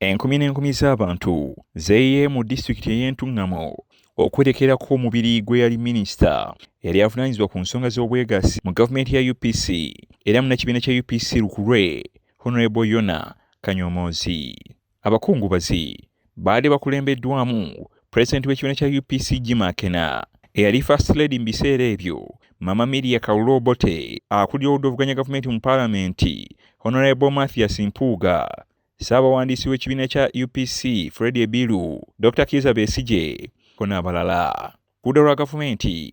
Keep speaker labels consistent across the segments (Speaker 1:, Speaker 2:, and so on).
Speaker 1: Enkumi n'enkumi z'abantu zeeyiye mu disitulikiti ey'entungamo okwerekerako omubiri gwe yali minisita eyali avunaanyizibwa ku nsonga z'obwegassi mu gavumenti ya UPC era munnakibiina kya UPC lukulwe Honorable Yona Kanyomoozi. Abakungubazi baade bakulembeddwamu Pulezidenti w'ekibiina kya UPC Jim Akena, eyali First Lady mu biseera ebyo, Mama Miria Kalule Obote, akulira oludda oluvuganya gavumenti mu Palamenti, Honorable Mathias Mpuuga, Ssaabawandiisi w'ekibiina kya UPC Fred Ebiru, Dr. Kiiza Besigye, ko n'abalala. Ku ludda lwa gavumenti,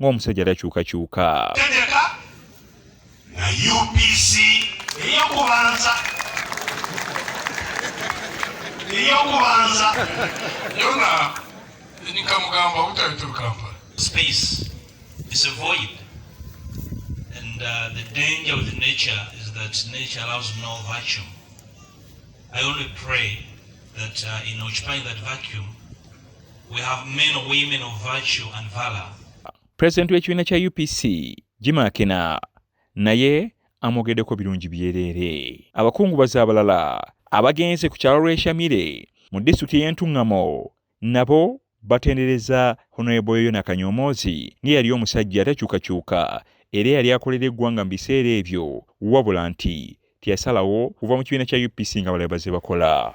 Speaker 1: ng'omusajja takyukakyuka. Tegeka
Speaker 2: na UPC eyokubanza eyokubanza yona enikamugamba obutabitul kampala space
Speaker 3: is a void and uh, the danger with nature is that nature allows no vacuum i only pray that uh, in occupying that vacuum We have men or women of virtue and valor. President w'ekibiina
Speaker 1: kya UPC Jimmy Akena naye amwogeddeko birungi byereere. Abakungubazi abalala abagenze ku kyalo lw'eshamire mu disitulikiti ey'entuŋŋamo nabo batendereza Honorable Yoyo Nakanyomoozi ng'eyali omusajja atakyukakyuka era eyali akolera eggwanga mu biseera ebyo wabula nti teyasalawo kuva mu kibiina kya UPC nga balala baze bakola.